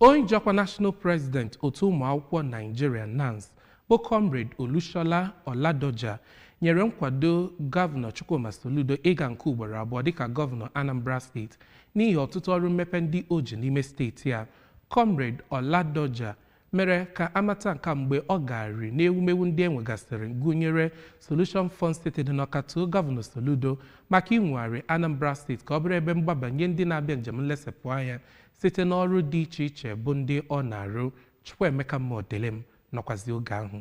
Onye ji ọkwa National President otu ụmụakwụkwọ Naijiria NANS bụ Comrade Olushola Oladoja nyere nkwado Gọvanọ Chukwuma Soludo ịga nke ugboro abụọ dịka Gọvanọ Anambra steeti n'ihi ọtụtụ ọrụ mmepe ndị o ji n'ime steeti a. Comrade Oladoja mere ka amata nke a mgbe ọ gagharịrị n'ewumewu ndị enwegasịrị gụnyere Solution Fun City dị n'Ọka too Gọvanọ Soludo maka inwegharị Anambra steeti ka ọ bụrụ ebe mgbaba nye ndị na-abịa njem nlesepụ anya site n'ọrụ dị iche iche bụ ndị ọ na-arụ Chukwuemeka Modilim nọkwazi oge ahụ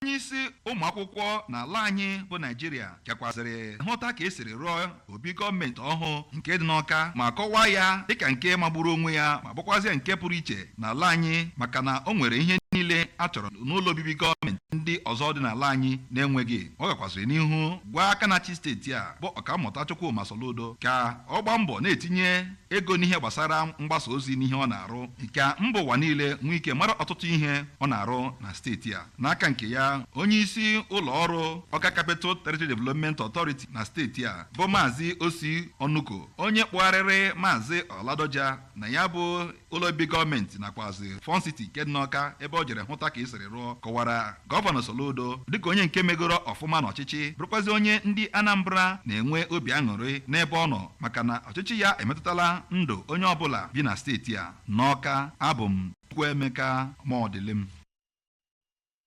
onye isi ụmụ akwụkwọ n'ala anyị bụ naijiria gakwazịrị hụta ka esiri rụọ obi gọọmenti ọhụụ nke dị n'ọka ma kọwaa ya dịka nke magburu onwe ya ma bụkwazịa nke pụrụ iche n'ala anyị maka na o nwere ihe niile a chọrọ n'ụlọ obibi gọọmenti ndị ọzọ dị n'ala anyị na-enweghị ọ gakwazịrị n'ihu gwa aka na-achị steeti a bụ ọkammụta Chukwuma Soludo ka ọ gbaa mbọ na-etinye ego n'ihe gbasara mgbasa ozi n'ihe ọ na-arụ ka mba ụwa niile nwee ike mara ọtụtụ ihe ọ na-arụ na steeti a n'aka nke ya onye isi ụlọ ọrụ ọka capital territory development authority na steeti a bụ maazị ossy onuko onye kpụgharịrị maazị oladoja na ya bụ ụlọ obi gọọmenti nakwazi fun city nke dị n'ọka ebe ọ jere hụta ka e siri rụọ kọwara Gọvanọ Soludo dịka onye nke megoro ọfụma n'ọchịchị bụrụkwazi onye ndị Anambra na-enwe obi aṅụrị n'ebe ọ nọ maka na ọchịchị ya emetụtala ndụ onye ọbụla bi na steeti a. N'Ọka, abụ m Chukwuemeka Modilim.